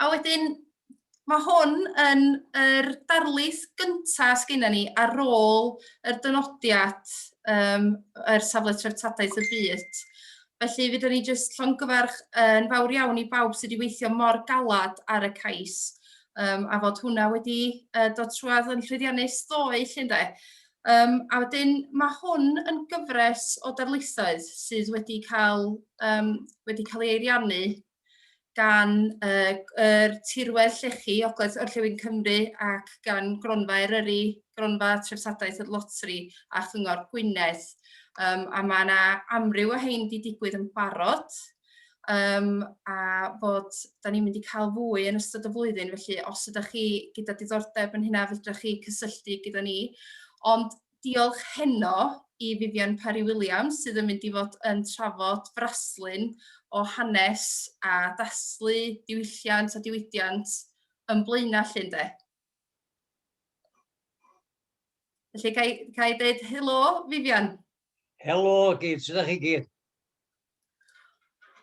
A wedyn, mae hwn yn yr er darlith gyntaf sgynna ni ar ôl yr dynodiad um, yr safle treftadaeth y byd. Felly, fydda ni jyst llongyfarch yn fawr iawn i bawb sydd wedi weithio mor galad ar y cais, um, a fod hwnna wedi uh, dod trwad yn llwyddiannus ddoe, llun de. Um, a wedyn mae hwn yn gyfres o darlithoedd sydd wedi cael, um, wedi cael ei eiriannu gan uh, er tirwedd llechi Ogledd Orllewin Cymru ac gan Gronfa Eryri, Gronfa Trefsadaeth y Lotri a Chyngor Gwynedd. Um, a mae yna amryw o hein wedi digwydd yn barod, um, a bod da ni'n mynd i cael fwy yn ystod y flwyddyn, felly os ydych chi gyda diddordeb yn hynna, fydrych chi cysylltu gyda ni. Ond diolch heno i Vivian Parry Williams sydd yn mynd i fod yn trafod fraslun o hanes a daslu diwylliant a diwydiant yn blaenau llun de. Felly, ga i, ga i dweud helo, Vivian? Helo, gyd, sut ydych chi gyd?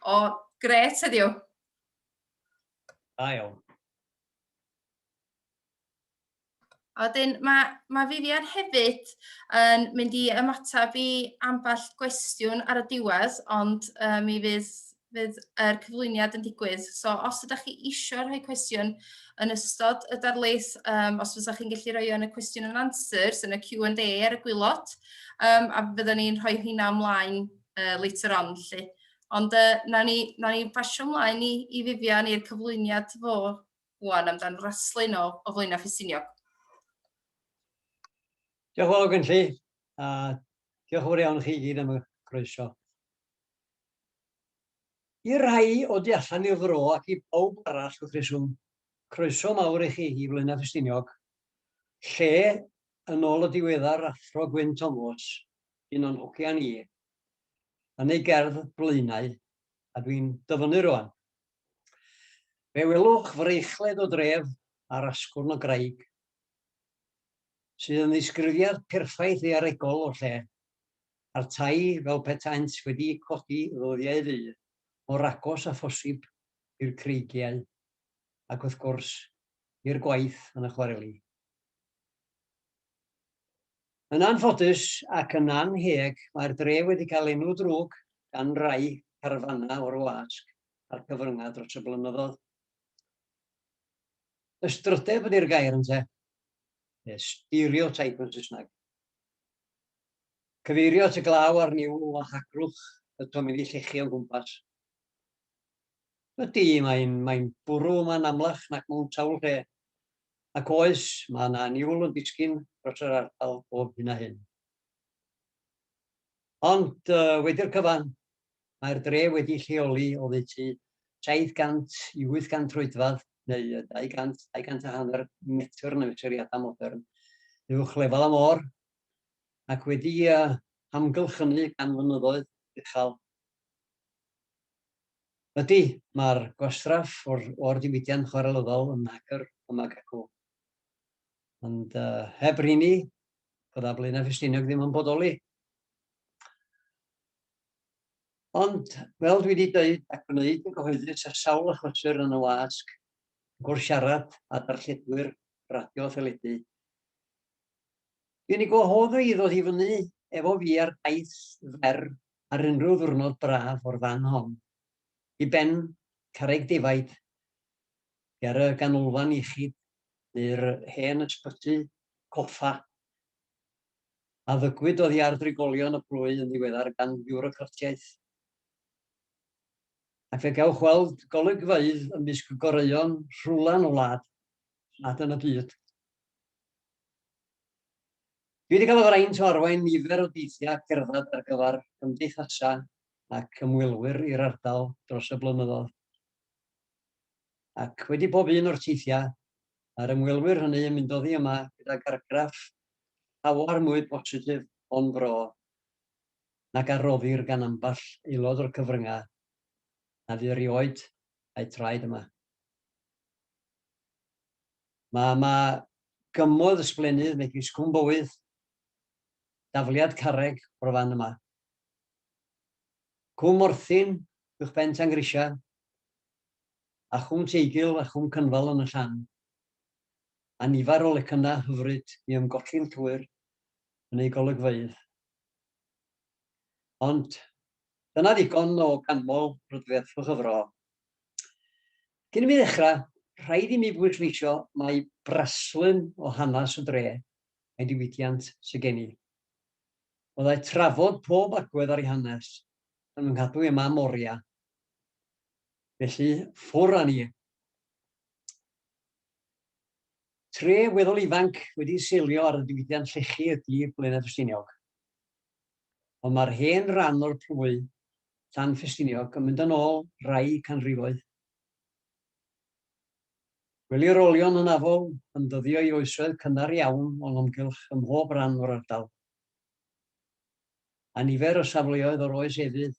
O, gret heddiw. Da iawn. A wedyn mae, mae Vivian hefyd yn mynd i ymateb i ambell gwestiwn ar y diwedd, ond uh, mi fydd fydd yr cyflwyniad yn digwydd. So os ydych chi eisiau rhoi cwestiwn yn ystod y darlith, um, os fyddwch chi'n gallu rhoi yn y cwestiwn yn answers, yn y Q&A ar y gwylod, um, a byddwn ni'n rhoi hynna ymlaen uh, later on. Lly. Ond uh, na ni, na ni basio ymlaen i, i Vivian i'r cyflwyniad fo wan amdan raslun o, o flaenau ffisiniog. Diolch yn fawr, Gynlli, a diolch yn fawr iawn chi gyd am y croeso. I'r rhai o du allan i'r fro ac i bawb arall wrth reswm, croeso mawr i chi i Flaenau Ffestiniog, lle, yn ôl y diweddar Athro Gwyn Tomos, un o'n hogia ni, yn ei gerdd 'Blaenau', a dwi'n dyfynnu rŵan, fe welwch freichled o dref ar asgwrn o graig, sydd yn ddisgrifiad perffaith ddaearegol o'r lle, a'r tai fel petaent wedi'u codi ddyddiau ddu, mor agos â phosib i'r creigiau, ac wrth gwrs, i'r gwaith yn y chwareli. Yn anffodus ac yn annheg, mae'r dref wedi cael enw drwg gan rai carfanau o'r wasg a'r cyfryngau dros y blynyddoedd. Ystrydeb ydi'r gair, ynte? Neu stereotype yn Saesneg. Cyfeirio at y glaw a'r niwl o hagrwch y tomenni llechi o'n gwmpas. Ydy, mae'n, mae'n bwrw yma'n amlach nac mewn sawl lle. Ac oes, mae yna niwl yn disgyn dros yr ardal bob hyn a hyn. Ond, uh, wedi'r cyfan, Mae'r dref wedi lleoli oddeutu 700 i 800 troedfedd, neu 200, 200 a hanner metr yn mesuriadau modern, uwch lefel y môr, ac wedi hamgylch hynny gan fynyddoedd uchel. Ydy, mae'r gwastraff o'r, or diwydiant chwarelyddol yn hagr ym Magaku. Ond uh, heb rini, bydda Blaenau Ffestiniog ddim yn bodoli. Ond, fel dwi wedi dweud ac wneud yn gyhoeddus ar sawl achlysur yn y wasg, wrth siarad â darlledwyr radio a theledu, dwi'n ei gwahodd o i ddod i fyny efo fi ar daith fer ar unrhyw ddiwrnod braf o'r fan hon i ben carreg defaid ger y ganolfan iechyd neu'r hen ysbyty coffa a ddygwyd oddi ar drigolion y plwyf yn ddiweddar gan fiwrocratiaeth. Ac fe gewch weld golygfeydd ymysg goreuon rhwlan y wlad nad yn y byd. Dwi wedi cael y fraint o arwain nifer o deithiau cerdded ar gyfer cymdeithasau ac ymwelwyr i'r ardal dros y blynyddoedd. Ac wedi pob un o'r teithiau, Mae'r ymwelwyr hynny yn mynd oddi yma gydag argraff llawer mwy positif o'n bro nag a roddir gan ambell aelod o'r cyfryngau na fu erioed a'u traed yma. Mae yma gymoedd ysblennydd megis Cwm Bowydd, dafliad carreg o'r fan yma, Cwm Morthyn uwchben Tan Grisia, a Chwm Teigil a Chwm Cynfal yn y Llan, a nifer o lecynnau hyfryd i ymgolli'n llwyr yn eu golygfeydd. Ond dyna ddigon o ganmol rhyddiaith fy chyfro. Cyn i mi ddechrau, rhaid i mi bwysleisio mai braslun o hanes y dre a'i diwydiant sydd gen i. Byddai trafod pob agwedd ar ei hanes yn fy nghadw i â mam oriau. Felly, ffwr â ni. Tre weddol ifanc wedi seilio ar y diwydiant llechi ydy Blaenau Ffestiniog. Ond mae'r hen ran o'r plwy, Llan Ffestiniog, yn mynd yn ôl rai canrifoedd. Gwelir olion hynafol yn dyddio i oesoedd cynnar iawn o'n amgylch ym mhob rhan o'r ardal. A nifer o safleoedd o'r oes efydd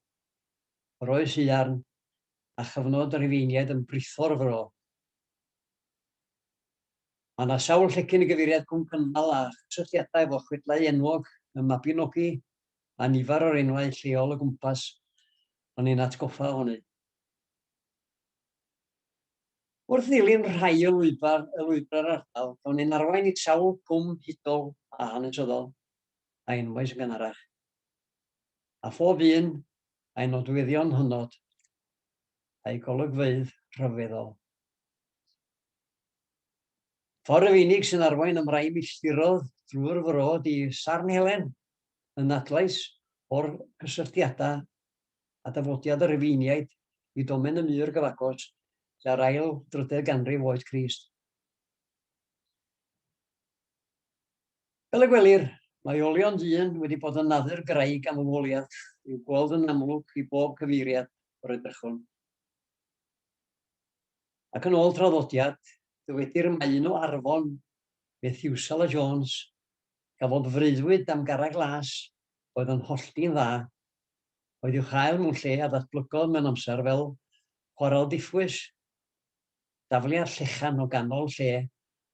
yr oes haearn a chyfnod y Rhufeiniaid yn britho'r fro. Mae yna sawl llecyn i gyfeiriad Cwm Cynnal a chysylltiadau efo chwedlau enwog y Mabinogi a nifer o'r enwau lleol o gwmpas yn ein atgoffa ohoni. Wrth ddilyn rhai o lwybrau'r lwybrau'r ardal, cawn ein arwain i sawl cwm hudol a hanesyddol a enwais yn gynharach, a phob un a'i nodweddion hynod a'i golygfeydd rhyfeddol. Ffordd yr unig sy'n arwain am rai milltirodd drwy'r fro di Sarn Helen, yn adlais o'r cysylltiadau a dafodiad y Rhufeiniaid i domen y mur gyfagos tua'r ail drydedd ganrif oed Crist. Fel y gwelir, mae olion dyn wedi bod yn naddu'r graig am y woliad i'w gweld yn amlwg i bob cyfeiriad o'r edrychwn. Ac yn ôl traddodiad, dywedir y mae un o Arfon, Methiwsela Jones, gafodd freuddwyd am garreg las oedd yn hollti'n dda, oedd i'w chael mewn lle a ddatblygodd mewn amser fel chwarel diffwys. Dafliad Llechan o ganol lle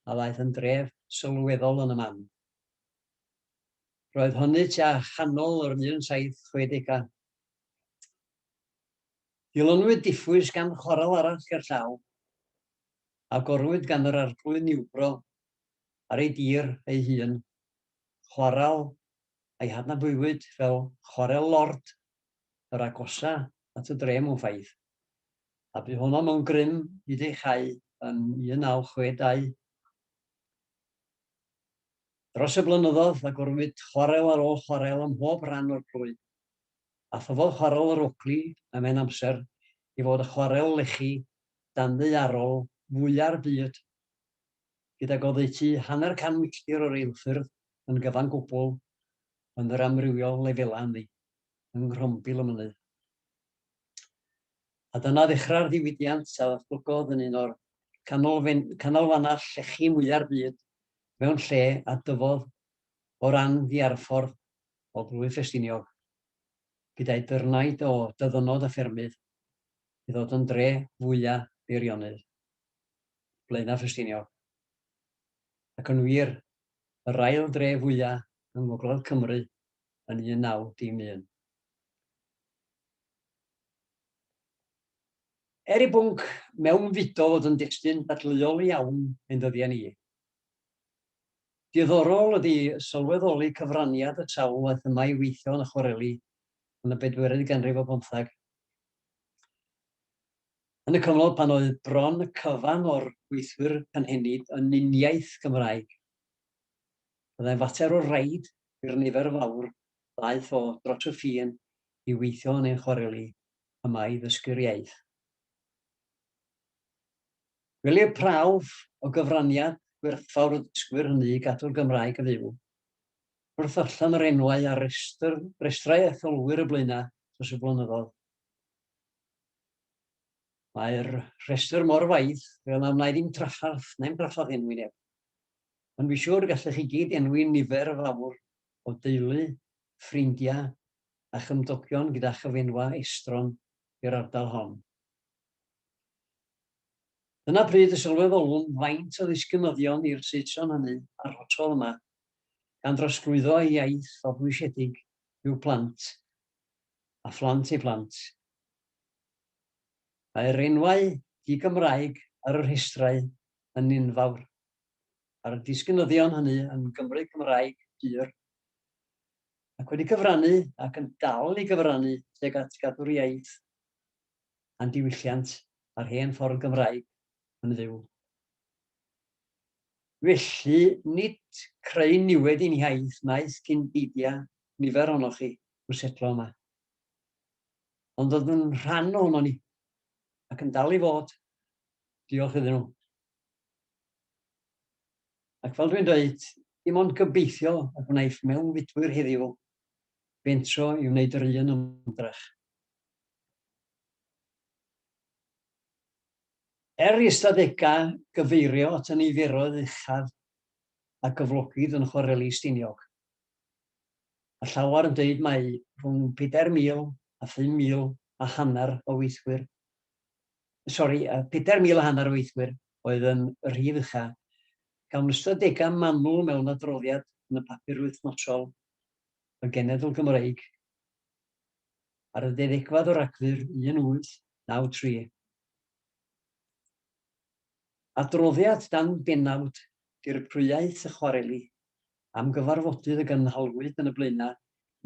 a ddaeth yn dref sylweddol yn y man. Roedd hynny tua chanol yr 1760au. Dilynwyd diffwys gan chwarel arall ger llaw, a gorwyd gan yr Arglwydd Niwbro ar ei dir ei hun, chwarel a'i hadnabuwyd fel Chwarel Lord yr agosa at y dre mewn ffaith. a bu honno mewn grym hyd ei chau yn 1962. Dros y blynyddoedd, agorwyd chwarel ar ôl chwarel ym mhob rhan o'r plwy, a thyfodd Chwarel yr Ogli ym mhen amser i fod y chwarel lechi danddaearol fwya'r byd, gydag oddeutu hanner can milltir o reilffyrdd yn gyfan gwbl yn yr amrywiol lefelau ynddi, yng Nghrombil y Mynydd. A dyna ddechrau'r ddiwydiant a ddatblygodd yn un o'r canolfannau llechi mwya'r byd mewn lle a dyfodd o ran ddiarffordd o blwyf Ffestiniog, gyda'i dyrnaid o dyddynod a ffermydd, i ddod yn dre fwya beirionydd Blaenau Ffestiniog, ac yn wir, yr ail dre fwya yng ngogledd Cymru yn 19 dim un. Er i bwnc mewnfudo fod yn destun dadleuol iawn ein dyddiau ni, diddorol ydi sylweddoli cyfraniad y sawl aeth yma i weithio yn y chwareli yn y bedwerydd ganrif ar bymtheg, yn y cyfnod pan oedd bron y cyfan o'r gweithwyr cynhenid yn uniaith Gymraeg. Byddai'n fater o raid i'r nifer fawr ddaeth o dros y ffin i weithio yn ein chwareli yma i ddysgu'r iaith. Gwelir prawf o gyfraniad gwerthfawr y dysgwyr hynny i gadw'r Gymraeg yn fyw. Wrth ddarllen yr enwau ar restr, restrau etholwyr y Blaenau dros y blynyddoedd, mae'r rhestr mor faith fel na wna i ddim traffarth, na i'm traffarth enwi neb. Ond fi siŵr y gallech chi gyd enwi nifer fawr o deulu, ffrindiau a chymdogion gyda chyfenwa estron i'r ardal hon. Dyna pryd y sylweddolwn faint o ddisgynyddion i'r Saeson hynny a'r hotel yma, gan drosglwyddo ei iaith o bwysiedig i'w plant a phlant ei phlant. Mae'r enwau di-Gymraeg ar y rhestrau yn unfawr. ar y disgynyddion hynny yn Gymru Cymraeg pur, ac wedi cyfrannu ac yn dal i gyfrannu tuag at gadw'r iaith a'n diwylliant a'r hen ffordd Gymraeg yn fyw. Felly, nid creu niwed i'n hiaith wnaeth cyn beidia nifer ohonoch chi i'w setlo yma, ond oedd yn rhan ohono ni, ac yn dal i fod. Diolch iddyn nhw. Ac fel dwi'n dweud, dim ond gobeithio y wnaiff mewnfudwyr heddiw fentro i wneud yr un ymdrech. Er i ystadegau gyfeirio at y niferoedd uchaf a gyflogid yn Chwareli Stiniog, mae llawer yn dweud mai rhwng pedair mil a phum mil a hanner o weithwyr sori, a 4,000 a hanner o weithwyr oedd yn y rhif ucha. Cawn ystadegau manwl mewn adroddiad yn y papur wythnosol y Genedl Gymreig ar y ddeuddegfad o Ragfyr 1893. Adroddiad dan bennawd Dirprwyaeth y Chwareli am gyfarfodydd y gynhalwyd yn y Blaenau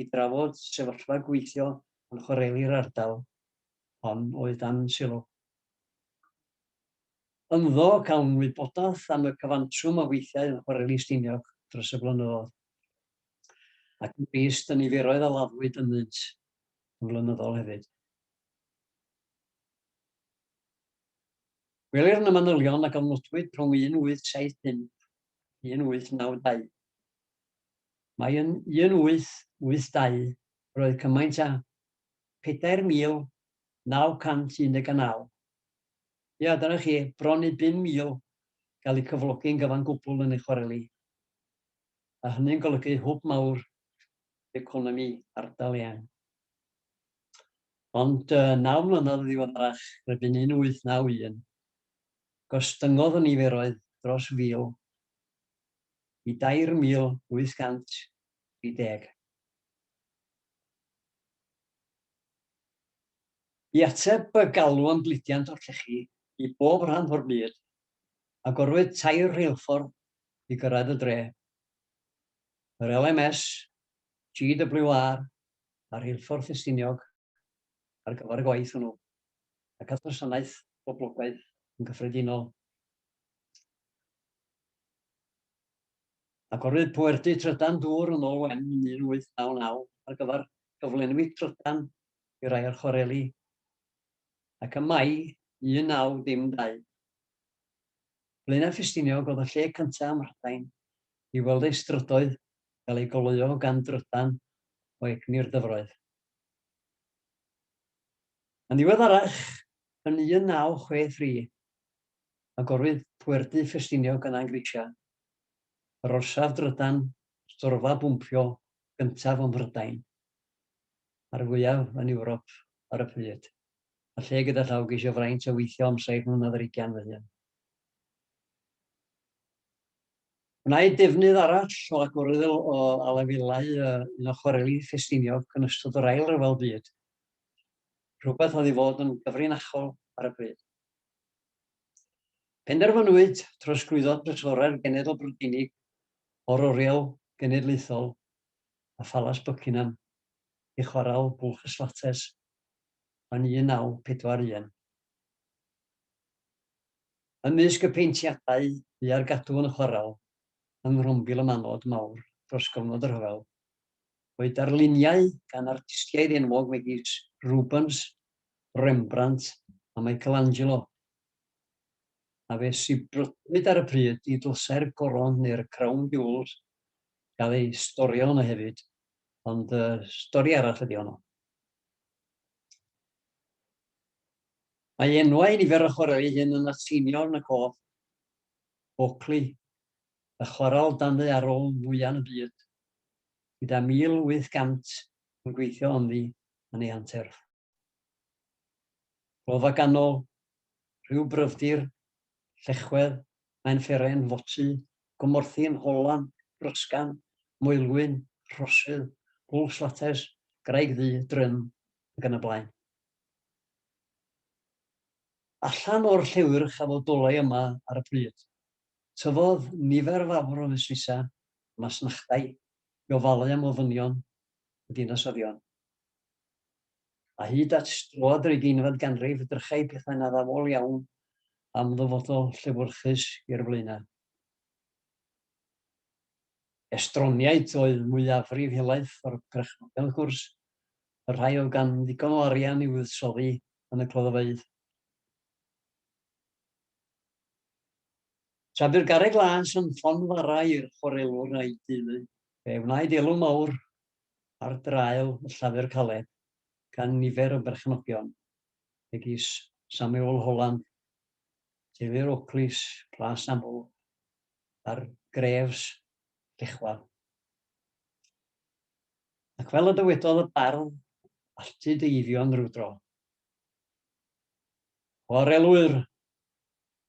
i drafod sefyllfa gweithio yn chwareli'r ardal hon oedd dan sylw. Ynddo cawn wybodaeth am y cyfantrwm o weithiau yn chwareli Stiniog dros y blynyddoedd, ac yn drist y niferoedd a laddwyd ynddynt yn flynyddol hefyd. Gwelir yn y manylion a gofnodwyd rhwng 1875 a 1892 mai yn 1882 roedd cymaint â 4919. Ia, dyna chi, bron i 5000 gael eu cyflogi'n gyfan gwbl yn ei chwareli, a hynny'n golygu hwb mawr i economi ardal eang. Ond naw mlynedd yn ddiweddarach, erbyn 1891, gostyngodd y niferoedd dros 1,000 i 2,830. I ateb y galw'n gludiant o'r llechi i bob rhan o'r byd, agorwyd tair rheilffordd i gyrraedd y dre, yr LMS, GWR a Rheilffordd Ffestiniog ar gyfer y gwaith hwnnw, ac at wasanaeth boblogaidd yn gyffredinol. Agorwyd Poerdy Trydan Dŵr yn ôl Wen yn 1899 ar gyfer cyflenwi trydan i rai o'r chwareli, ac ym Mai 1912, Blaenau Ffestiniog oedd y lle cyntaf ym Mhrydain i weld ei strydoedd gael eu goleuo gan drydan o egni'r dyfroedd. Yn ddiweddarach, yn 1963, agorwyd Poerdy Ffestiniog yn Angrisia, yr orsaf drydan storfa bwmpio gyntaf ym Mhrydain, a'r fwyaf yn Ewrop ar y pryd, a lle gyda llaw geisio fraint a weithio am saith mlynedd ar ugain fy hun. Gwnaed defnydd arall o agorodd o alafelau un o chwareli Ffestiniog yn ystod yr Ail Ryfel Byd, rhywbeth oedd i fod yn gyfrinachol ar y pryd. Penderfynwyd trosglwyddo Trysorau'r Genedl Brydeinig o'r Oriel Genedlaethol a Phalas Buckingham i Chwarel Bwlch y Slates yn 1941. Ymysg y peintiadau bu ar gadw yn y chwarel yng Nghrombil y Manod Mawr dros gyfnod y rhyfel oedd darluniau gan artistiaid enwog megis Rubens, Rembrandt a Michelangelo, a fe sibrwdwyd ar y pryd i ddlysau'r goron neu'r crown jewels gael eu storio yno hefyd, ond uh, stori arall ydi honno. Mae enwau nifer o chwaraeau ei hun yn Latinio yn y cof, Oakley, y chwarael danu arol fwyaf yn y byd, gyda 1,800 yn gweithio ynddi yn ei anterth. Rhodd a ganol, rhyw bryfdir, llechwedd, mae'n fferen, foti, gomorthyn, holan, brysgan, moelwyn, rhosydd, bwlch slates, graig ddu, drym, ac yn y blaen. Allan o'r llewyrch a fodolai yma ar y pryd, tyfodd nifer fawr o fusnesau, masnachdai, i ofalu am ofynion y dinasyddion. A hyd at stroad yr ugeinfed ganrif, drychai pethau'n addawol iawn am ddyfodol llefwrchus i'r Blaenau. Estroniaid oedd mwyafrif helaeth o'r perchnogion, wrth gwrs, y rhai oedd gan ddigon o arian i fuddsoddi yn y cloddfeydd. Tra bu'r garreg las yn ffon fara i'r chwarelwr a'i deulu, Fe wnaed elw mawr ar draul y Llafur Caled gan nifer o berchenogion, megis Samuel Holland, teulu'r Oakleys, Plas Aml, a'r Greves, Llechwedd. Ac fel y dywedodd y bardd, alltu dy Eifion rywdro. Chwarelwyr!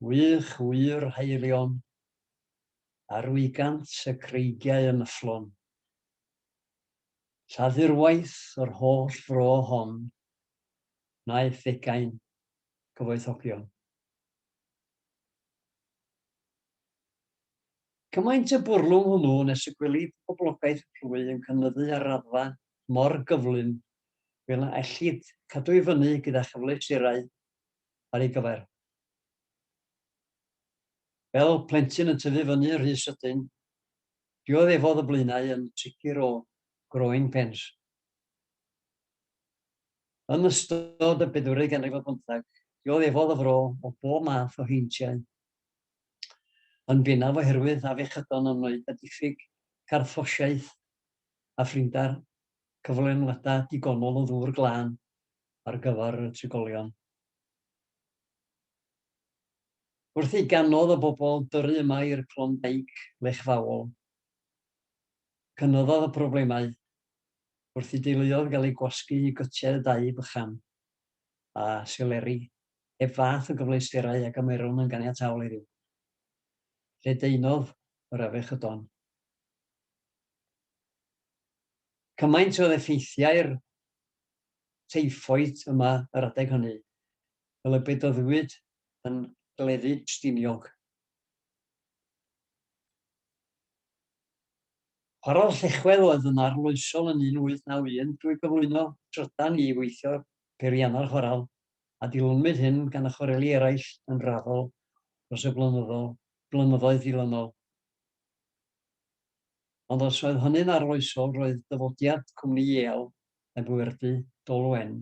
Wych wir haelion! ar wigant y creigiau yn yfflon. Lladurwaith yr holl fro hon wnaeth ddeugain gyfoethogion. Cymaint y bwrlwm hwnnw nes y gwelid poblogaeth y plwy yn cynyddu ar raddfa mor gyflym fel na ellid cadw i fyny gyda chyfleusterau ar ei gyfer. Fel plentyn yn tyfu fyny rhy sydyn, dioddefodd y blaenau yn sicr o growing pains. Yn ystod y bedwerydd ganrif ar bymtheg, dioddefodd y fro o bob math o heintiau, yn bennaf oherwydd afiechydon yn ymwneud â diffyg carthffosiaeth a phrinder, cyflenwadau digonol o ddŵr glân ar gyfer y trigolion. Wrth i gannoedd o bobl dyrru yma i'r Klondike lechfaol, cynyddodd y problemau wrth i deuluoedd gael eu gwasgu i gytiau y dau bychan a seleri heb fath o gyfleusterau a gymerwn yn ganiataol heddiw. Lledaenodd yr afiechydon. Cymaint oedd effeithiau'r teiffoid yma yr adeg hynny, fel y bedyddwyd yn Gleddyd Stiniog. Chwarel Llechwedd oedd yn arloesol yn 1891 drwy gyflwyno trydan i weithio peiriannau'r chwarel, a dilynwyd hyn gan y chwareli eraill yn raddol dros y blynyddoedd dilynol. Ond os oedd hynny'n arloesol, roedd dyfodiad Cwmni Yale y bwyrdy Dolwen.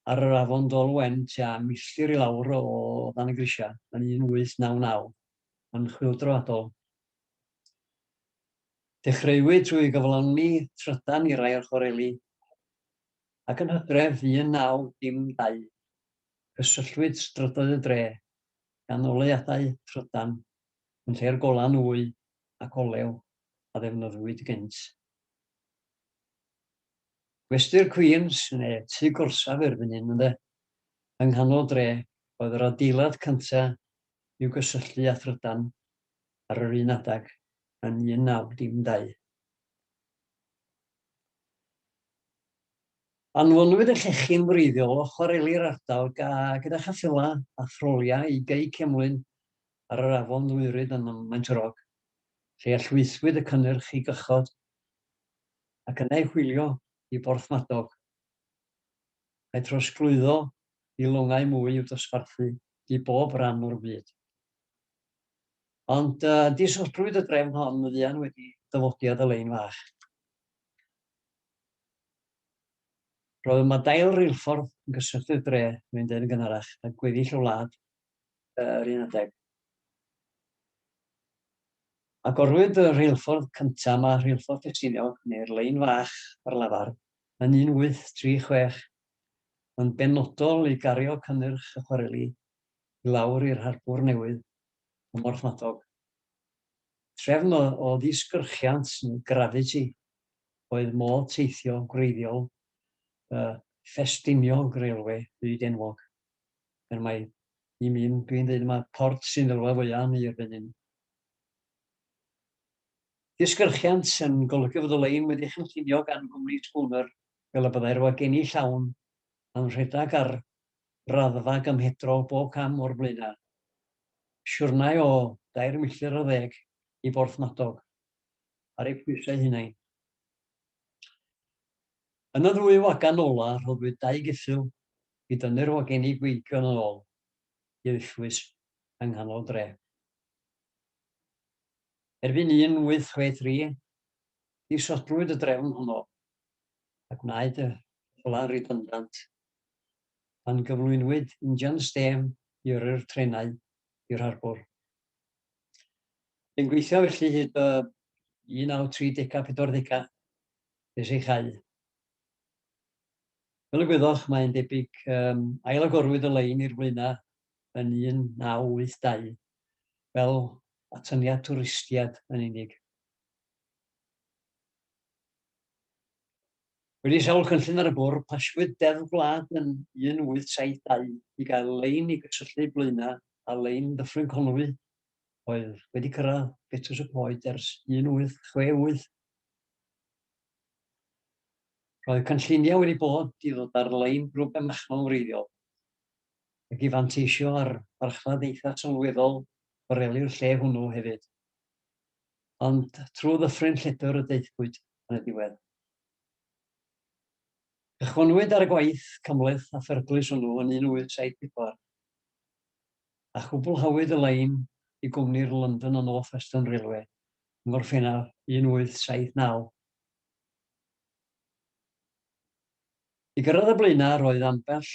Ar yr afon Dolwen, tua milltir i lawr o dan y grisiau, yn 1899, yn chwyldroadol. Dechreuwyd trwy gyflawni trydan i rai o'r chwareli, ac yn hydref 1912, cysylltwyd strydoedd y dre gan oleuadau trydan yn lle'r golau nwy ac olew a ddefnyddiwyd gynt. Gwesty'r Queens, neu tŷ gorsaf erbyn hyn ynde, yng nghanol dre, oedd yr adeilad cyntaf i'w gysylltu â thrydan ar yr un adeg yn 1912. Anfonwyd y llechyn wreiddiol o chwareli'r ardal gyda cheffylau a throliau i Gei Cemlyn ar yr afon Ddwyrid ym Maen Maentrog, lle llwythwyd y cynnyrch i gychod ac yna ei hwylio i Borthmadog, a'i throsglwyddo i longau mwy i'w dosbarthu i bob ran o'r byd. Ond uh, disodrwyd y drefn hon yn fuan wedi dyfodiad y lein fach. Roedd yma dail reilffordd yn gysylltu'r dre, mae'n dweud yn gynharach, a gweddill y wlad yr un adeg. Agorwyd y rheilffordd cyntaf yma, Rheilffordd Ffestiniog, neu'r Lein Fach ar lafar, yn 1836, yn benodol i gario cynnyrch y chwareli i lawr i'r harbwr newydd ym Mhorthmadog. Trefn o ddisgyrchiant, neu gravity, oedd modd teithio gwreiddiol y Ffestiniog Railway fyd enwog. Er mai i mi, dwi'n dweud mai port sy'n elwa fwya am i erbyn hyn. Disgyrchiant yn golygu fod y lein wedi chynllunio gan gwmni Spooner fel y byddai'r wagenni llawn yn rhedeg ar raddfa gymhedrol bob cam o'r blaenau. Siwrnai o dair milltir ar ddeg i Borthmadog, ar eu pwysau hunain. Yn y ddwy wagen ola' rhoddwyd dau geffyl i dynnu'r wagenni gweigion yn ôl i Ufwys yng nghanol dre. Erbyn 1863, disodlwyd y drefn honno a gwnaed y rhwla ridundant pan gyflwynwyd injan stêm i yrru'r trenau i'r harbwr. Yn gweithio felly hyd y 1930 a 40au, nes ei chau. Fel y gwyddoch, mae'n debyg, um, ailagorwyd y lein i'r flaenau yn 1982 fel atyniad twristiad yn unig. Wedi sawl cynllun ar y bwrdd, pasiwyd Deddf Gwlad yn 1872 i gael lein i gysylltu Blaena a lein Dyffryn Conwy oedd wedi cyrraedd Betws y Coed ers 1868. Roedd cynlluniau wedi bod i ddod ar-lein drwy benachlon wreiddiol, ac i fanteisio ar farchnad eitha' sylweddol boreli'r lle hwnnw hefyd. Ond trwy ddyffryn lledr y daethpwyd yn y diwedd. Cychwynnwyd ar y gwaith cymhleth a pherglus hwnnw yn 1874, a chwblhawyd y lein i gwmni'r London and North Western Railway yng Ngorffennaf 1879. I gyrraedd y blaenau roedd ambell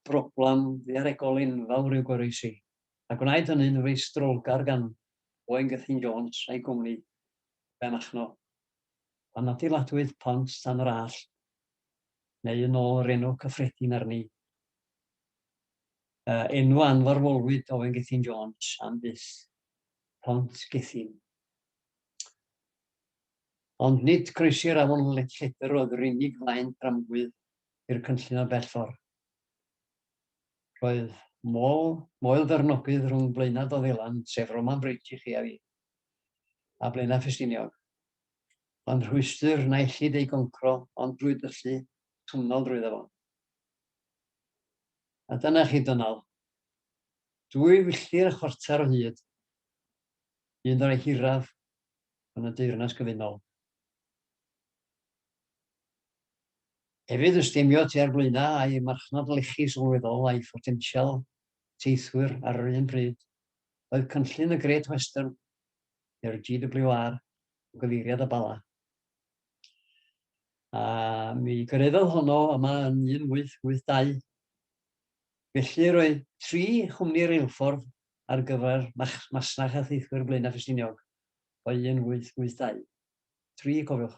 broblem ddaearegol enfawr i'w goroesi, a gwnaed hynny'n feistrolgar gan Owain Gethin Jones a'i gwmni Ben Achno, pan adeiladwyd Pont Tan yr Allt, neu yn ôl yr enw cyffredin arni, enw a anfarwolwyd Owain Gethin Jones am byth. Pont Gethin. Ond nid croesi'r afon Lledr oedd yr unig flaen dramgwydd i'r cynllun o bell ffordd. Roedd mol, moel fernogydd rhwng Blaenau Doddelan, sef Roman Bridge i chi a fi, a Blaenau Ffestiniog. Ond rhwystr na ellid ei goncro ond drwy dyllu twnnol drwy ddefon. A dyna chi Donald. Dwy filltir a chwarter o hyd, un o'r rhai hiraf yn y Deyrnas Gyfunol. Hefyd yn stemio tua'r blaenau a'i marchnad lechi sylweddol a'i photensial teithwyr ar yr un pryd, oedd cynllun y Great Western, neu'r GWR, o gyfeiriad y Bala. A mi gyrhaeddodd honno yma yn 1882, Felly, roedd tri chwmni reilffordd ar gyfer masnach a theithwyr Blaenau Ffestiniog o 1882. Tri, cofiwch.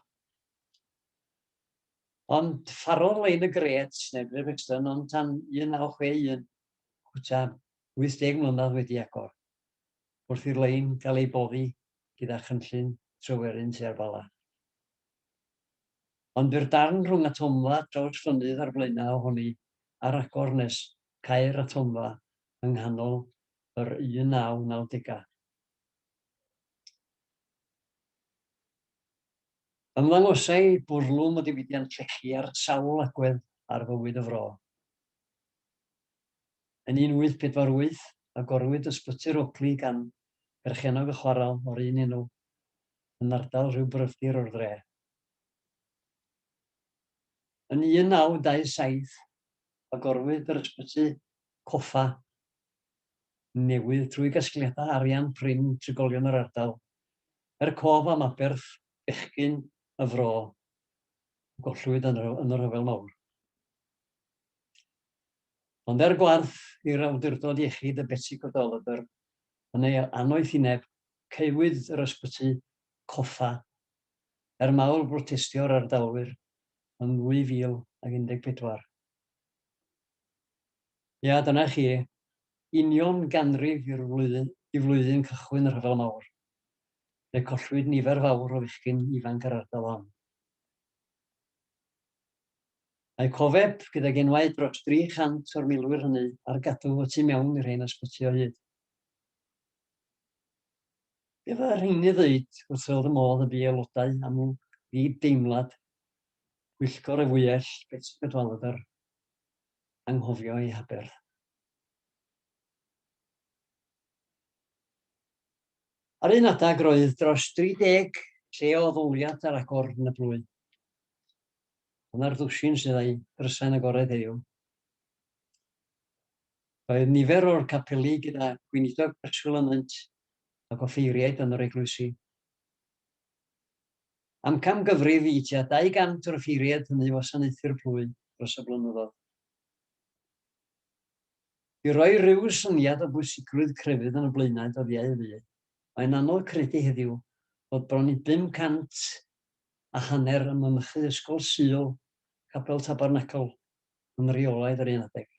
Ond pharodd lein y gret, neu Great Brixton, ond tan 1961, cwta 80 mlynedd wedi agor, wrth i'r lein gael ei boddi gyda chynllun Tryweryn tua'r Bala. Ond bu'r darn rhwng atomfa Trawst Llonydd a'r flaenau ohoni ar agor nes cau'r atomfa yng nghanol yr 1990au. Ymddangosai bwrlwm o ddiwydiant llechi ar sawl agwedd ar fywyd y fro. Yn 1848, agorwyd Ysbyty'r Oakley gan berchennog y chwarel o'r un enw. yn ardal rhyw bryfdir o'r dre. Yn 1927, agorwyd yr ysbyty coffa newydd trwy gasgliadau arian prin trigolion yr ardal, er cof am aberth bechgyn y fro a gollwyd yn y Rhyfel Mawr. Ond er gwarth i'r Awdurdod Iechyd y Betsi Cadwaladr yn ei anoethineb caewyd yr ysbyty coffa er mawl brotestio'r ardalwyr yn 2014. Ia, dyna chi, union ganrif i'r flwyddyn, i flwyddyn cychwyn y Rhyfel Mawr, fe collwyd nifer fawr o fechgyn ifanc yr ardal hon. Mae cofeb gydag enwau dros 300 o'r milwyr hynny ar gadw y tu mewn i'r hen ysbyty o hyd. Be fydda rhein i ddeud wrth fel fy modd y bu aelodau am nhw fi deimlad pwyllgor y fwyell Betsi Cadwaladr anghofio ei haberth. Ar un adeg roedd dros 30 lle o ddoliad ar agor yn y blwy. Dyna'r ddwsin sydd â'i ddrysain agored heddiw. Roedd nifer o'r capeli gyda gweinidog preswyl ynynt ac offeiriaid yn yr eglwysi. Am camgyfrif i tua 200 o'r offeiriaid hynny wasanaethu'r plwy dros y blynyddoedd. I roi rhyw syniad o bwysigrwydd crefydd yn y Blaenau dyddiau y fu, mae'n anodd credu heddiw fod bron i 500 a hanner ym mynychu Ysgol Sul, Capel Tabernacl, yn reolaidd yr un adeg.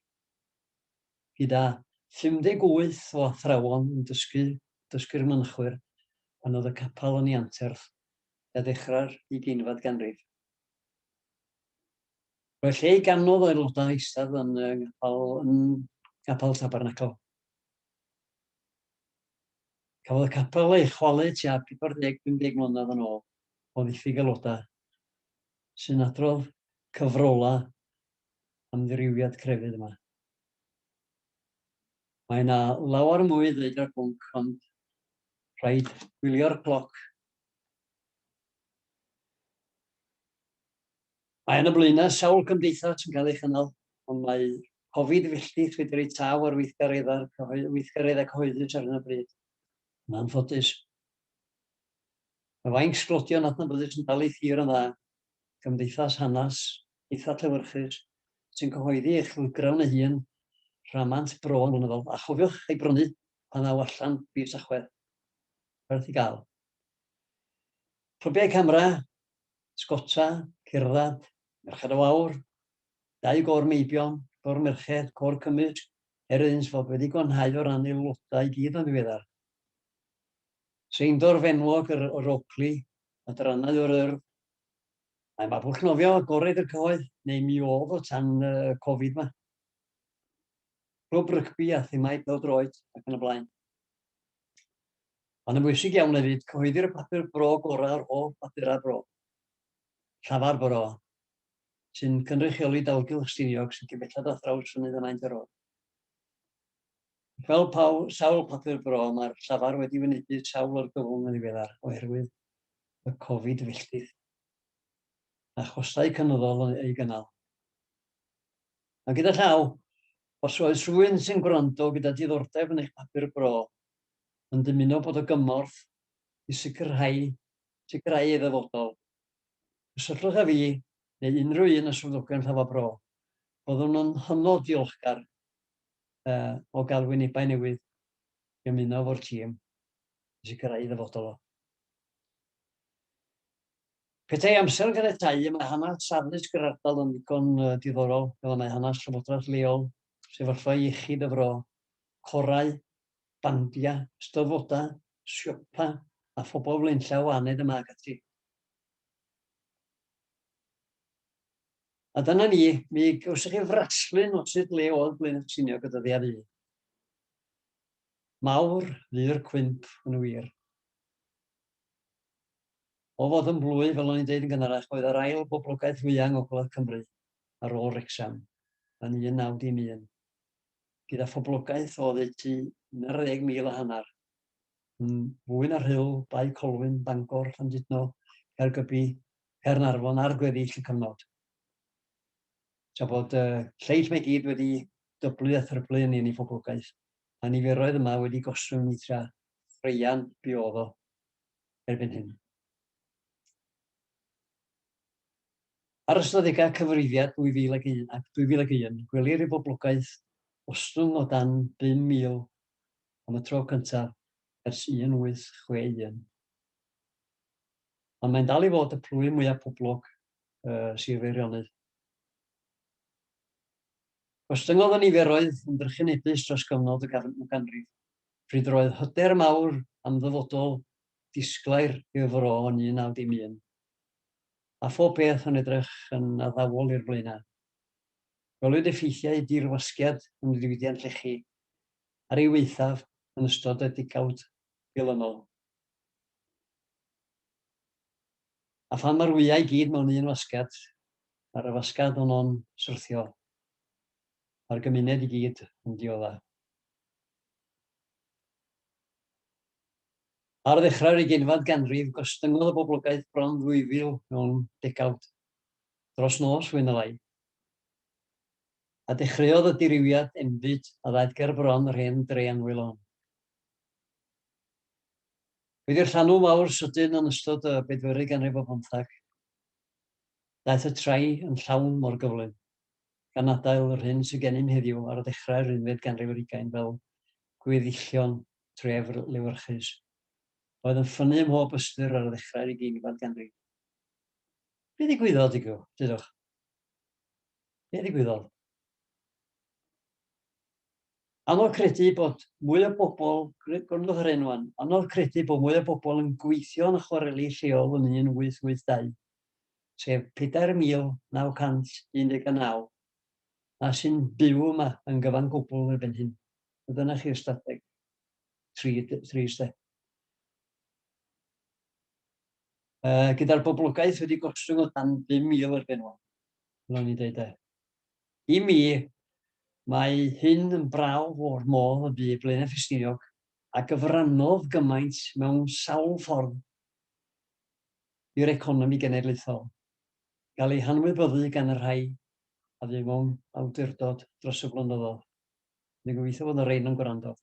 gyda 58 o athrawon yn dysgu, dysgu'r mynachwyr, pan oedd y capel yn ei anterth a ddechrau'r ugeinfed ganrif. Roedd lle i ganodd o aelodau eistedd yn y ngapel, yn gapel Tabernacl. Cafodd y capel ei chwalu tua 40-50 mlynedd yn ôl o ddiffyg aelodau, sy'n adrodd cyfrolau amddirywiad crefydd yma. Mae yna lawer mwy i ddweud ar bwnc, ond rhaid gwylio'r cloc. Mae yna blaenau sawl cymdeithas yn cael ei chynnal, ond mae Covid filltith wedi rhoi taf ar weithgareddau'r weithgareddau cyhoeddus ar hyn o bryd, yn anffodus. Mae fainc sglodion adnabyddus yn dal ei thir yn dda, gymdeithas hanes eitha llewyrchus sy'n cyhoeddi ei chylchgrawn ei hun, rhamant bro yn flynyddol, a chofiwch ei brynu pan ddaw allan fis Tachwedd. Werth i gael. Profiai camera, sgota, cerdded, merched o aur, dau gôr meibion, cor merched, cor cymysg, er iddynt fod wedi gwanhau o ran aelodau i gyd yn ddiweddar. Seindorf enwog yr Oakley Adrannau o'r Urdd. Mae Mabwlch nofio agored y cyhoedd, neu mi oedd o tan y Covid 'ma. Clwb rygbi a thimau pêl-droed ac yn y blaen. Ond yn bwysig iawn hefyd, cyhoeddir y papur bro gorau o'r holl bapurau bro. Llafar Bro, sy'n cynrychioli dalgylch Stiniog sy'n cyn belled â thrawsfynydd y Maint yr Oer. Fel paw, sawl papur bro, mae'r llafar wedi wynebu sawl argyfwng yn ddiweddar oherwydd y Covid filltir a chostau cynyddol yn ei gynnal. A gyda llaw, os oes rhywun sy'n gwrando gyda diddordeb yn eich papur bro, yn dymuno bod o gymorth i sicrhau, sicrhau ei ddyfodol, cysylltwch â fi neu unrhyw un o swyddogion llafar bro. Byddwn yn hynod ddiolchgar uh, o gael wynebau newydd i ymuno fo'r tîm i sicrhau ddyfodol o. Petai amser yn ganiatáu, y mae hanes addysg yr ardal yn ddigon diddorol, fel y mae hanes llywodraeth leol, sefyllfa iechyd y fro, corau, bandiau, ystafodau, siopa a phobl flaenllaw aned yma ac ati. A dyna ni, mi gawsoch chi frasglun o sut le oedd Blaenau Ffestiniog y dyddiau fu. Mawr fu'r cwymp yn wir. O fod yn blwy, fel o'n i'n deud yn gynharach, oedd yr ail boblogaeth fwyaf yng Ngogledd Cymru ar ôl Wrecsam yn 1911, gyda phoblogaeth o oddeutu 11,000 a hanner, yn fwy na Rhyl, Bae Colwyn, Bangor, Llandudno, Caergybi, Caernarfon ar gweddill y cyfnod. Tra bod y lleill mae gyd wedi dyblu a thryblu yn eni phoblogaeth, mae niferoedd yma wedi gostwng i tra thraean biodd o erbyn hyn. Ar ystadegau cyfrifiad 2001 ac 2001, gwelir i boblogaeth ostwng o dan 5,000 am y tro cyntaf ers 1861. Ond mae'n dal i fod y plwyf mwyaf poblog ym Sir Feirionnydd. Gostyngodd y niferoedd yn drychinebus dros gyfnod y gadwyn ganrif, pryd yr oedd hyder mawr am ddyfodol disglair i'r fro yn 1911, a phob peth yn edrych yn addawol i'r Blaenau. Gwelwyd effeithiau dirwasgiad yn y diwydiant lechi ar ei waethaf yn ystod y degawd dilynol. A phan mae'r wyau i gyd mewn un fasged, mae'r afasgad honno'n syrthio. Mae'r gymuned i gyd yn diodda. Ar ddechrau'r ugeinfad ganrif, gostyngodd y boblogaeth bron 2,000 mewn degawd, dros nos fwy na lai, a dechreuodd y dirywiad enbyd a ddaeth ger bron yr hen dre anwyl hon. Wedi llanw mawr sydyn yn ystod y bedwerydd ganrif o bymthag, daeth y trai yn llawn mor gyflym, gan adael yr hyn sydd gennym heddiw ar ddechrau'r unfed ganrif ar ugain fel gweddillion tref lewyrchus a oedd yn ffynnu ym mhob ystyr ar ddechrau'r ugeinfad ganrif. Be ddigwyddodd, dudwch? Be ddigwyddodd? Anodd credu bod mwy o bobl, gwrandwch ar hyn wan, anodd credu bod mwy o bobl yn gweithio yn y chwareli lleol yn 1882, sef 4,919, na sy'n byw yma yn gyfan gwbl erbyn hyn. A dyna chi'r ystadeg. Trist, de. Uh, gyda'r boblogaeth wedi gostwng o dan 5,000 erbyn hwn, fel o'n i'n dweud, de. I mi, mae hyn yn brawf o'r modd y bu Blaenau Ffestiniog, a gyfrannodd gymaint mewn sawl ffordd i'r economi genedlaethol, gael ei hanwybyddu gan y rhai a fu mewn awdurdod dros y blynyddoedd. Dwi'n gobeithio fod y rhain yn gwrando.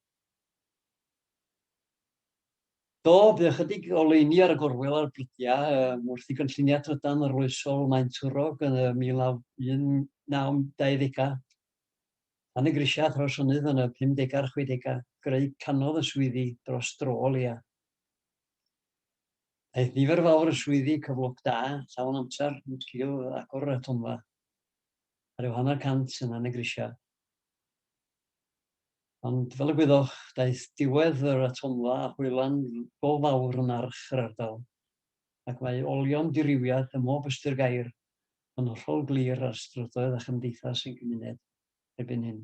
Do, bydd ychydig oleuni ar y gorwel a'r brydiau um, wrth i gynlluniau trydan arloesol Maen Twrog yn y 1920au Pan y grisiau a thrawsynnydd yn y 50au a'r 60au, greu canodd y swyddi dros dro o leia. Aeth nifer fawr y swyddi cyflog da, llawn amser, yn sgil agor y tonfa, a rhyw hanner cant yna yn y grisiau. Ond fel y gwyddoch, daeth diwedd yr atomfa a hwylan go fawr yn arch yr ardal, ac mae olion dirywiad ym mhob ystyr gair yn hollol glir ar strydoedd a chymdeithas ein cymuned erbyn hyn.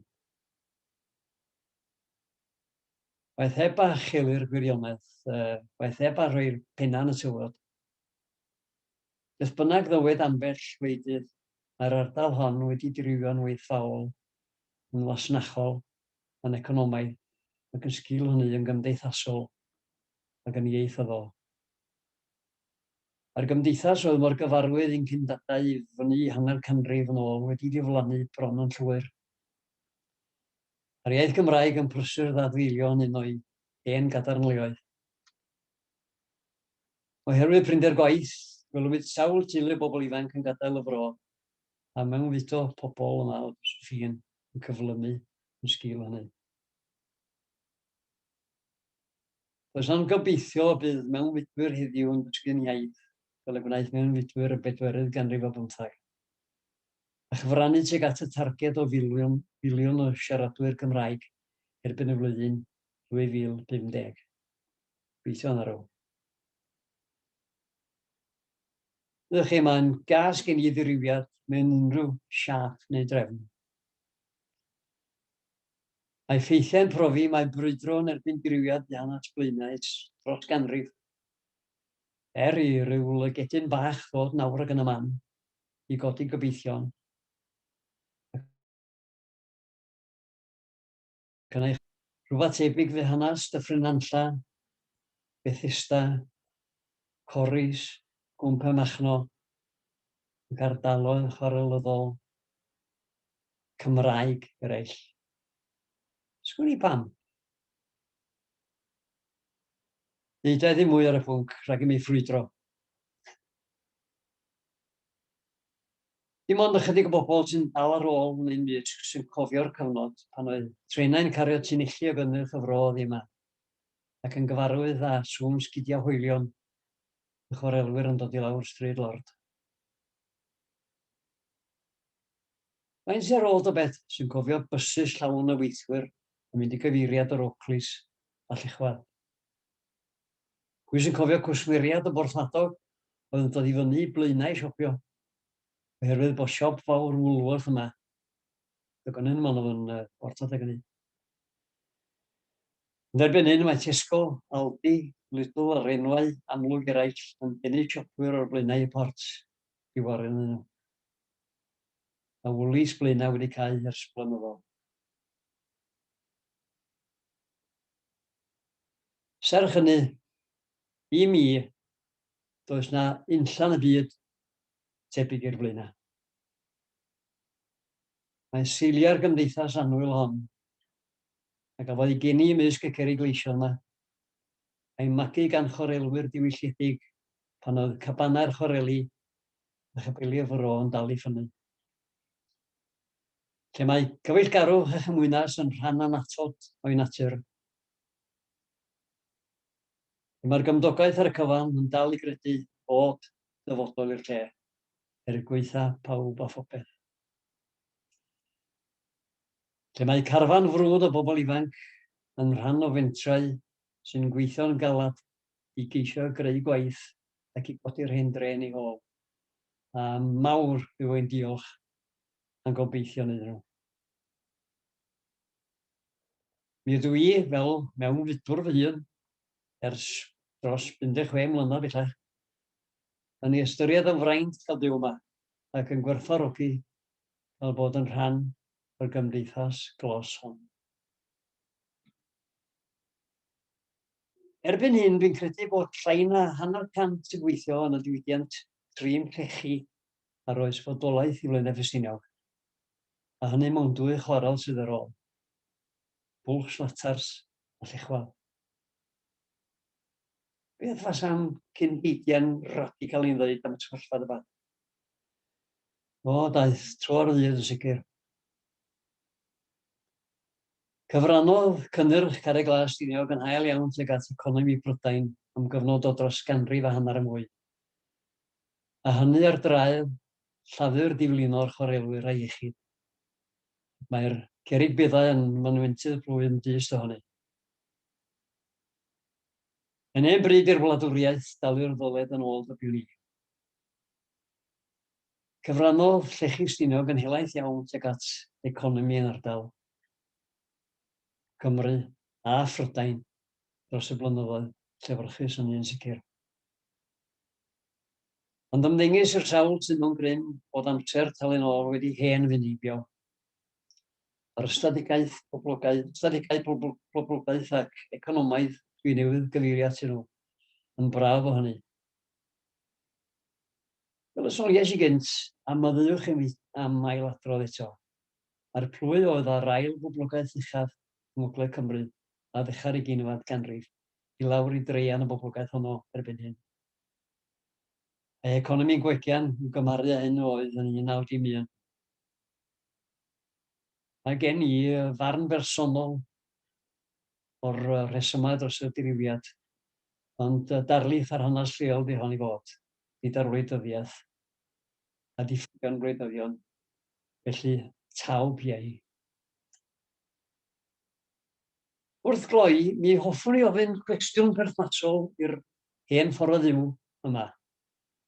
Waeth heb a chelir gwirionedd, waeth heb a rhoi'r pennau yn y tywod. Beth bynnag ddywed ambell wleidydd, mae'r ardal hon wedi dirywio'n waethfaol yn fasnachol, yn economaidd, ac yn sgil hynny yn gymdeithasol ac yn ieithyddol. Mae'r gymdeithas oedd mor gyfarwydd i'n cyn-dadau i fyny hanner canrif yn ôl wedi diflannu bron yn llwyr. Mae'r iaith Gymraeg yn prysur ddadfeilio yn un o'i hen gadarnleoedd. Oherwydd prinder gwaith, gwelwyd sawl teulu o bobl ifanc yn gadael y fro a mewnfudo pobl yn dda os ydych chi'n yn cyflymu yn sgil hynny. Does am gobeithio y bydd mewnfudwyr heddiw yn dysgu'n iaith fel y gwnaeth mewnfudwyr y bedwerydd ganrif o bymtheg, a chyfrannu tuag at y targed o filiwn, filiwn o siaradwyr Cymraeg erbyn y flwyddyn 2050. Gweithio yn arw. Ydych chi mae'n gas gen i ddirywiad mewn unrhyw siâp neu drefn. Mae ffeithiau'n profi mae brwydro yn erbyn dirywiad dân at Blaenau dros ganrif. Er i ryw lygedyn bach ddod nawr ac yn y man i godi gobeithion, Gynna i rhywbeth tebyg fy hanas, Dyffryn Nantlla, Bethesda, Corris, Gwmp y Machno, ac ardaloedd chwarelyddol Cymraeg eraill. Sgwn i pam. Deudai ddim mwy ar y pwnc, rhag i mi ffrwydro. Dim ond ychydig o bobl sy'n dal ar ôl yn ein byd sy'n cofio'r cyfnod pan oedd trenau'n cario tunilli o gynnyrch y fro oddi yma, ac yn gyfarwydd â sŵn sgidiau hoelion y chwarelwyr yn dod i lawr Stryd Lord. Faint sy ar ôl ta beth sy'n cofio bysus llawn o weithwyr yn mynd i gyfeiriad yr Oakleys a Llechwedd? Pwy sy'n cofio cwsmeriad o Borthmadog oedd yn dod i fyny i Blaenau i siopio? Oherwydd bod siop fawr Woolworth yma. Dygonen yma oedd yn Borth adeg hynny. Yn erbyn hyn mae Tesco, Aldi, Lidl a'r enwau amlwg eraill yn denu siopwyr o'r Blaenau i Port Ifor iddyn nhw. Mae Woolies Blaenau wedi cau ers blynyddoedd. Serch hynny, i mi, does 'na unllan y byd tebyg i'r Blaenau. Mae'n seiliau'r gymdeithas annwyl hon, a gafodd ei geni ymysg y cerrig leision 'ma, a'i magu gan chwarelwyr diwylliedig pan oedd cabanau'r chwareli a chapeli'r fro yn dal i ffynnu. lle mae cyfeillgarwch a chymwynas yn rhan annatod o'i natur, lle mae'r gymdogaeth ar y cyfan yn dal i gredu bod dyfodol i'r lle, er gwaetha pawb a phopeth. Lle mae carfan frwd o bobl ifanc yn rhan o fentrau sy'n gweithio'n galed i geisio greu gwaith ac i godi'r hen drên i ôl. A mawr yw ein diolch yn gobeithio'n iddyn nhw. Mi ydw i, fel mewnfudwr fy hun, ers dros 16 mlynedd bellach, yn ei ystyried yn fraint cael byw yma ac yn gwerthfawrogi cael bod yn rhan o'r gymdeithas glos hon. Erbyn hyn, dwi'n credu bod llai na hanner cant sy'n gweithio yn y diwydiant trin llechi ar oes fodolaeth i Flaenau Ffestiniog, a hynny mond dwy chwarel sydd ar ôl, Bwlch Slatars a Llechwel. Beth fasam cyn heigian radical i'n ddweud am y sefyllfa dyma? O, daeth tro ar ddydd yn sicr. Cyfrannodd cynnyrch Carreg Glas Stiniog yn hael iawn tuag at economi Prydain am gyfnod o dros ganrif a hanner yn fwy. a hynny ar draul Llafur Diflino'r Chwarelwyr a Iechyd. Mae'r cerrig beddau yn fynwentydd plwyf dyst ohoni. Yn hen bryd i'r wladwriaeth dalu'r ddoled yn ôl dybio ni. Cyfrannodd llechi Stiniog yn helaeth iawn tuag at economi yn ardal Cymru a Phrydain dros y blynyddoedd llefyrchus, hynny yn sicr. Ond ymddengys i'r sawl sydd mewn grym bod amser talu nôl wedi hen fyn heibio. Yr ystadegau poblogaeth ac economaidd dwi newydd gyfeirio atyn nhw yn braf o hynny. Fel y soniais i gynt, a myddeuwch i mi am ailadrodd eto, mae'r plwy oedd â'r ail boblogaeth uchaf yng Ngogledd Cymru a ddechrau'r ugeinfad ganrif i lawr i draean y boblogaeth honno erbyn hyn. Mae economi'n gwegian i'w gymaru â hyn oedd yn 1911. Mae gen i farn bersonol o'r rhesymau dros y dirywiad, ond darlith ar hanes lleol di hon i fod, nid ar wleidyddiaeth a diffygion gwleidyddion, felly taw piau. Wrth gloi, mi hoffwn i ofyn cwestiwn perthnasol i'r hen ffordd o fyw yma,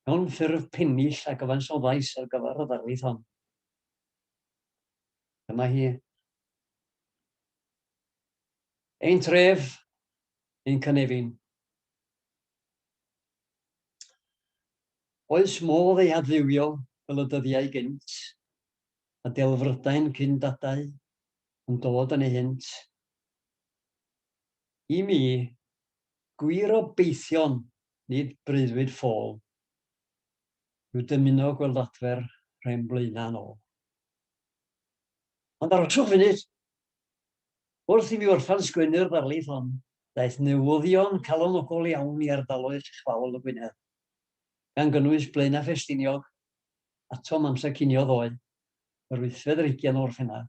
mewn ffurf pennill a gyfansoddais ar gyfer y ddarlith hon. Dyma hi. Ein tref, ein cynefin. Oes modd ei adfywio fel y dyddiau gynt, a delfrydau'n cyn dadau yn dod yn ei hynt. I mi, Gwir obeithion, nid breuddwyd ffôl, yw dymuno gweld adfer Rhên Blaenau yn ôl. Ond arhoswch funud! Wrth i mi orffan sgwennu'r ddarlith hon, daeth newyddion calonogol iawn i ardaloedd uchfaol y Gwynedd, gan gynnwys Blaenau Ffestiniog, atom amser cinio ddoe, yr wythfed ar hugain o Orffennaf,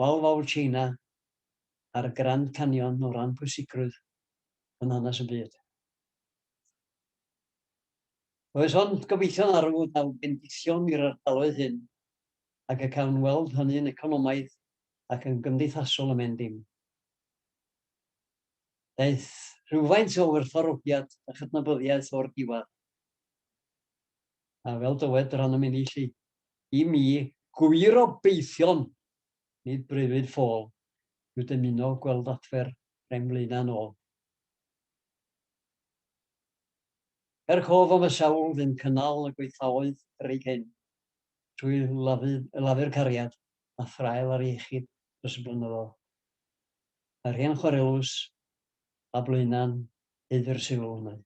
Wal Fawr Tsieina a'r Grand Canyon o ran pwysigrwydd yn hanes y byd. Oes ond gobeithio na ryw ddaw bendithion i'r ardaloedd hyn ac y cawn weld hynny'n economaidd ac yn gymdeithasol y men dim. Daeth rhywfaint o werthfawrogiad a chydnabyddiaeth o'r diwedd, a fel dywed yr anam inni 'lly. i mi gwir obeithion nid breuddwyd ffôl yw dymuno gweld adfer rheng Mlaenau'n ôl. Er cof am y sawl ddim cynnal y gweithfaoedd yr eu cyn, trwy lafu'r cariad a thraul ar iechyd dros y blynyddoedd, mae rheng chwarelus a Blaenau'n haeddu'r sylw hwnnw.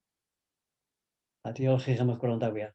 A diolch i chi am eich gwrandawiad.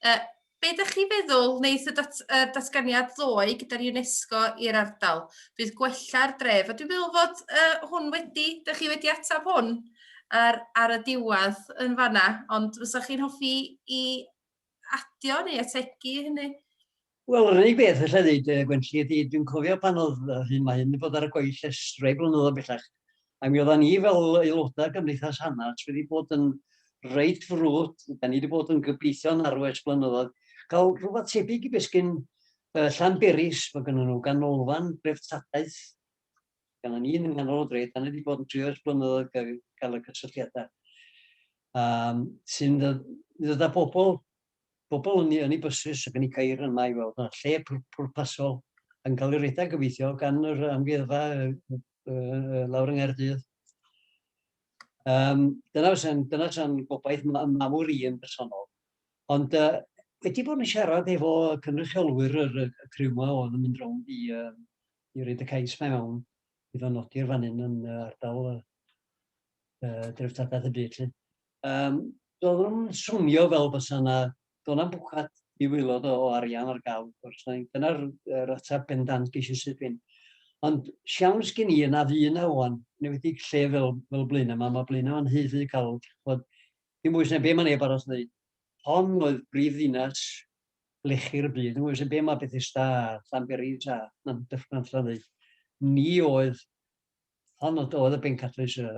Uh, Be ydych chi feddwl wneud y dat, uh, datganiad ddoe gyda'r UNESCO i'r ardal? Bydd gwella'r dref, a dwi'n meddwl fod uh, hwn wedi, ydych chi wedi ateb hwn ar, ar y diwedd yn fanna, ond fysa chi'n hoffi i adio neu ategu hynny? Wel, yr unig beth alla i ddeud, yy, Gwenlli, ydi dwi'n cofio pan oedd yr hyn mae hyn 'di bod ar y gweill ers rhai blynyddoedd bellach, a mi oeddan ni fel aelodau Cymdeithas Hanarts wedi bod yn reit frwd, 'dan ni wedi bod yn gobeithio'n arw ers blynyddoedd, cael rhywbeth tebyg i be' sgyn yy Llanberis, ma' gynnyn nhw ganolfan dreftadaeth gan ni yn nghanol y dre, 'dan ni wedi bod yn trio ers blynyddoedd ga- gael y cysylltiadau, yym, sy'n ddod i ddod â pobl bobl yn eu bysus ac yn eu ceir yma i weld y lle pwrpasol yn cael ei redeg gobeithio gan yr amgueddfa lawr yng Nghaerdydd. Um, dyna fysa'n dyna fysa'n gobaith mawr i yn bersonol. Ond uh, wedi bod yn siarad efo cynrychiolwyr yr, y criw yma oedd yn mynd rownd i, uh, i reid y cais mae mewn i ddod nodi'r fan hyn yn uh, ardal uh, dreftadaeth y byd. Lle. Yym, doedd nhw'm yn swnio fel bysa 'na, doedd 'na'm bwcad i waelod o o arian ar gael wrth gwrs, neu dyna'r yr ateb bendant ges i syth bin. Ond siawns gen i yna fu 'na ŵan, yn enwedig lle fel fel Blaenau 'ma, ma' Blaenau 'ma'n rhy rhy galw, dach ch'mod, dim mwy sy'n be' ma' neb arall wneud. Hon oedd brif ddinas lechi'r byd, dim mwy sy'n be' ma' Bethesda a Llanberis a Llan- Dyffryn Nantlle yn wneud. Ni oedd Hon oedd, oedd y bencatrys y,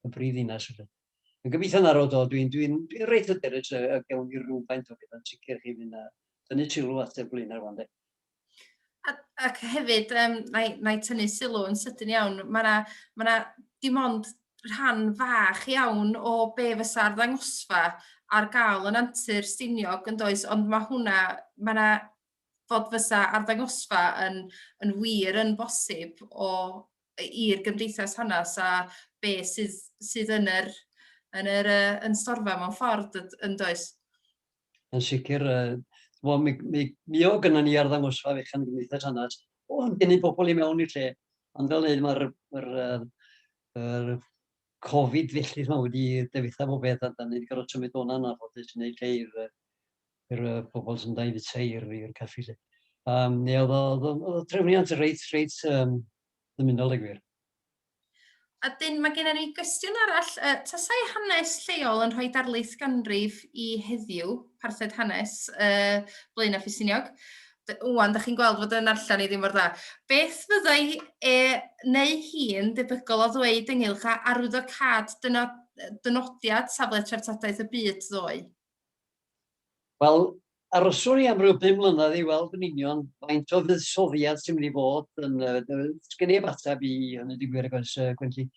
y brif ddinas. Yn gobeithio na roedd o, dwi'n dwi, dwi, dwi reit hyderus y, y gewn ni rhywfaint o bethau'n sicr chi fynd a dynnu sylw at y Blaenau rwan de. Ac hefyd, um, na, i, na i tynnu sylw yn sydyn iawn, mae yna ma, na, dim ond rhan fach iawn o be fysa'r ddangosfa ar gael yn antur Stiniog yn does, ond mae hwnna, mae yna fod fysa arddangosfa yn yn wir yn bosib o i- i'r gymdeithas hanas a be' sydd sydd yn yr yn yr yy yn storfa mewn ffordd dyd- yn does? Yn sicr yy ch'mo' mi mi mi o' gynnon ni arddangosfa fechan yn Gymdeithas Hanas o'n gennyn bobol i mewn i'r lle ond fel ddeud ma'r yr yy yr Covid felly ch'mo' wedi difetha popeth a 'dan ni 'di gorod symud o 'na'n anffodus i neud lle i'r yy i'r uh, pobl sy'n dau fyd seir fi i'r caffi lle. Um, neu oedd o, oedd o trefniant reit, reit um, ddymunol i gwir. A dyn, mae gennym ni gwestiwn arall. Uh, tasau hanes lleol yn rhoi darlith ganrif i heddiw, parthed hanes, uh, Blaen a Ffisiniog, Wan, da chi'n gweld fod yn allan i ddim mor dda. Beth fyddai e neu hi'n debygol o ddweud ynghylch a arwyddo cad dynodiad safle treftadaeth y byd ddoe? Wel, aroswn i am ryw bum mlynedd i weld yn union faint o fuddsoddiad sy'n mynd i fod yn... Does gen i eb ateb i hynny, dwi'n gwir, ac oes, Gwenlli.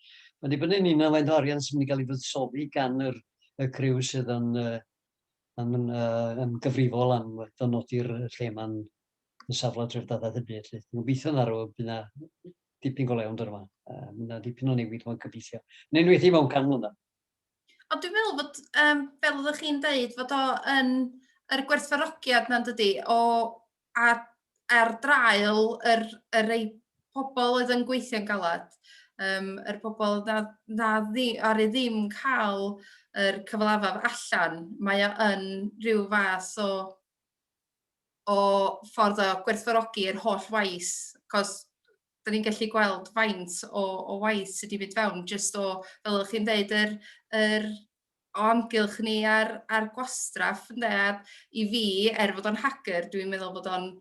Mae'n dibynnu yn union faint o arian sy'n mynd i gael ei fuddsoddi gan yr y criw sydd yn yn yn gyfrifol am ddynodi'r lle mae'n yn safle treftadaeth y byd. Dwi'n gobeithio na rhyw bydd na dipyn go lew yn dod yma. Mae yna dipyn o newid mae'n gobeithio. Yn enwedig mewn can mlynedd. Ond dwi'n meddwl bod, um, fel oeddech chi'n dweud, fod o yn yr gwerthfarogiad na'n dydy, o a, ar draul yr, yr ei pobl oedd yn gweithio'n galad, um, yr pobl na, na ddi, ar ei ddim cael yr cyfalafaf allan, mae o yn rhyw fath o, o ffordd o gwerthfarogi'r holl waith, cos da ni'n gallu gweld faint o, o waith sydd wedi mynd fewn, jyst o, fel ydych chi'n dweud, yr, yr o amgylch ni ar, ar gwastraff, ynddo, i fi, er fod o'n hager, dwi'n meddwl bod o'n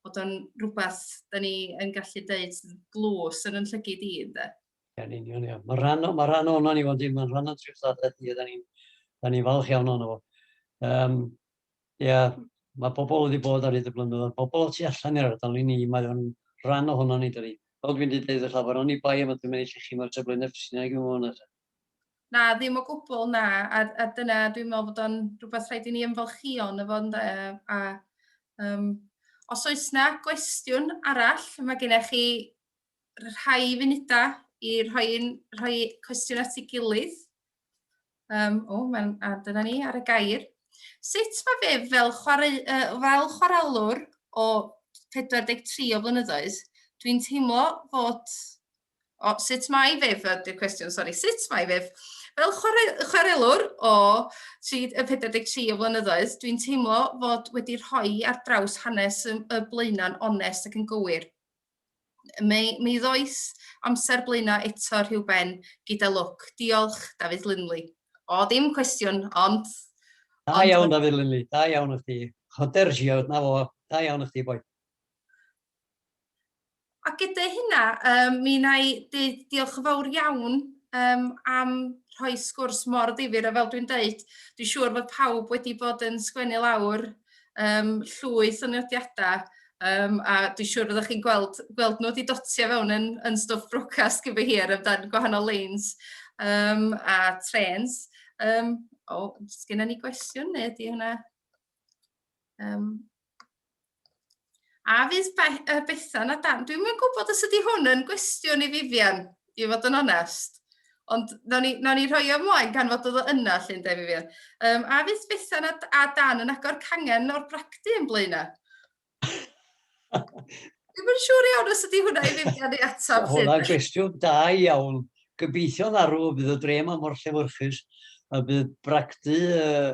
bod o'n rhywbeth da ni yn gallu dweud glws yn yn llygyd i, ynddo. Yn union, ia. Mae rhan, ma rhan o'n ni, ond mae'n rhan o'n trwy'r ddadaeth ni, da ni'n ni falch iawn o'n fo. Um, Ia, mae pobl wedi bod ar hyd y blynyddoedd, pobl o tu allan i'r ardal i ni, mae o'n rhan ohonon ni dydi? Fel dwi'n di deud wrth Afon, oni bai am y dwi'n mynd i llechu mo'r safle na ffisina i gymwyn na ta. Na, ddim o gwbl, na, a a dyna dwi'n meddwl fod o'n rhywbeth rhaid i ni ymfalchïo yno fo ynde, a um, os oes na gwestiwn arall, mae gennych chi rhai funudau i rhoi, rhoi cwestiwn at ei gilydd. Um, o, mae'n, a dyna ni ar y gair. Sut mae fe fel, chwarae, uh, fel chwarelwr o 43 o flynyddoedd, dwi'n teimlo fod... O, sut mae fe, ydy'r cwestiwn, sori, sut mae fe? Fel chwarae, chwarelwr o 43 o flynyddoedd, dwi'n teimlo fod wedi rhoi ar draws hanes y, y blaenau'n onest ac yn gywir. Mi, mi ddois amser blaenau eto rhyw ben, gyda lwc. Diolch, Dafydd Linley. O, dim cwestiwn, ond... Da ond... iawn, Dafydd Linley, da iawn o chdi. Hoder Giod, na fo, da iawn o chdi, boi. A gyda hynna, um, mi na i diolch yn fawr iawn um, am rhoi sgwrs mor ddifur a fel dwi'n dweud, dwi'n siŵr fod pawb wedi bod yn sgwennu lawr um, llwyth o nodiadau, um, a dwi'n siŵr fyddwch chi'n gweld, gweld nhw wedi dotio fewn yn, yn stwff brocas gyda hir amdano'n gwahanol leins um, a trens. Um, o, oh, sgynna ni gwestiwn neu ydy hwnna? Um, A fydd Be uh, Bethan a Dan? Dwi'n mynd gwybod os ydy hwn yn gwestiwn i Vivian, i fod yn onest. Ond na ni, na ni rhoi o ymlaen gan fod oedd o yna, llun de Vivian. Um, a fydd Bethan a, a Dan yn agor cangen o'r bragdy yn blaena? Dwi'n mynd siŵr iawn os ydy hwnna i Vivian i atab. Hwna gwestiwn da iawn. Gobeithio'n arw bydd y drem am o'r llefyrchus a bydd bragdy uh,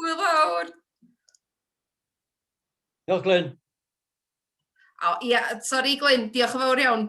Hwyl fawr! Diolch, Glyn. O, ia, sori, Glyn, diolch yn fawr iawn.